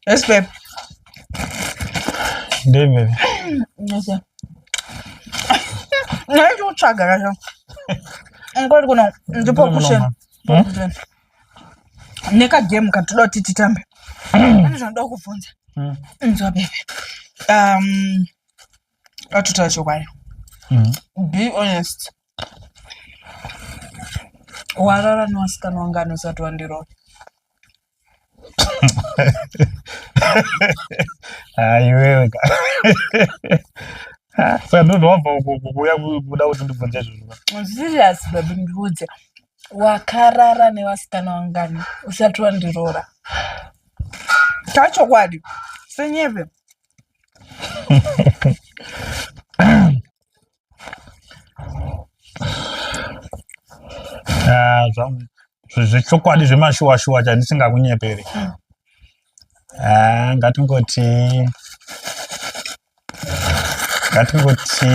Yes, babe. David. Yes, sir. Nayinto uchaga kasho. Ngikwazi kuno ndipho kusheni. Neka game katoda kuti titambe. Pane zvanoda kukubvunza. Nzwa bebe. Um Atotaura chokwadi. Mm-hmm. Be honest. Warara newasikana wanga anosati wandirova. Aiwewe ka. Saka ndozvo wabva kuuya kuda kuti ndibvunze izvozvo. Serious baby ndiudze. Wakarara nevasikana vangani usati wandiroora. Tachokwadi. Senyeve. Ah, zvechokwadi zvemashuwashuwa chandisingakunyeperi ah, ngatingoti ngatingoti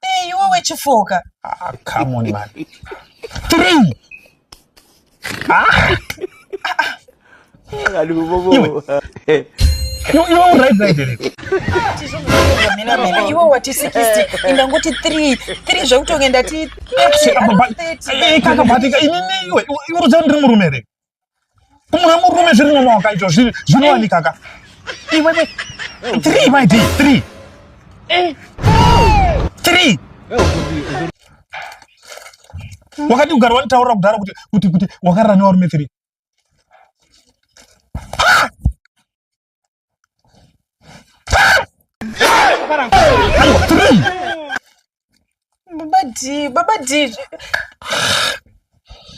Hey, iwe wechifoka. Ah, come on man. Three. Ah. Iwe. Iwe uright right here. Mina mina iwe wati 60 ingangoti 3 3 zvekutonge ndati. Kaka batika inini iwe. Iwe urudzani ndiri murume here? kumwe murume zviri nana wakaitwa zvinowanika ka iwewe three my d three eh. three wakati ugari wanitaurira kudhara kuti kuti kuti wakarara nevarume three baba d baba d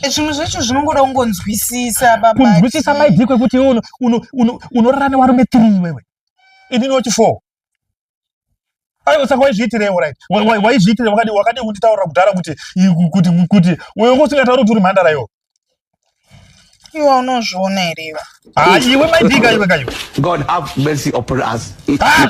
zvinhu zvacho zvinongoda kungonzwisisa baba kunzwisisa maidii kwekuti iwe unorara newarume three iwewe ini noti four aiwa saka waizviitirei right waizviitirei wakadi wakadi kunditaurira kudhara kuti kuti kuti wewe usingatauri kuti uri mhandara iwo iwa unozviona here iwa ah iwe maidika iwe kayo god have mercy upon us ah!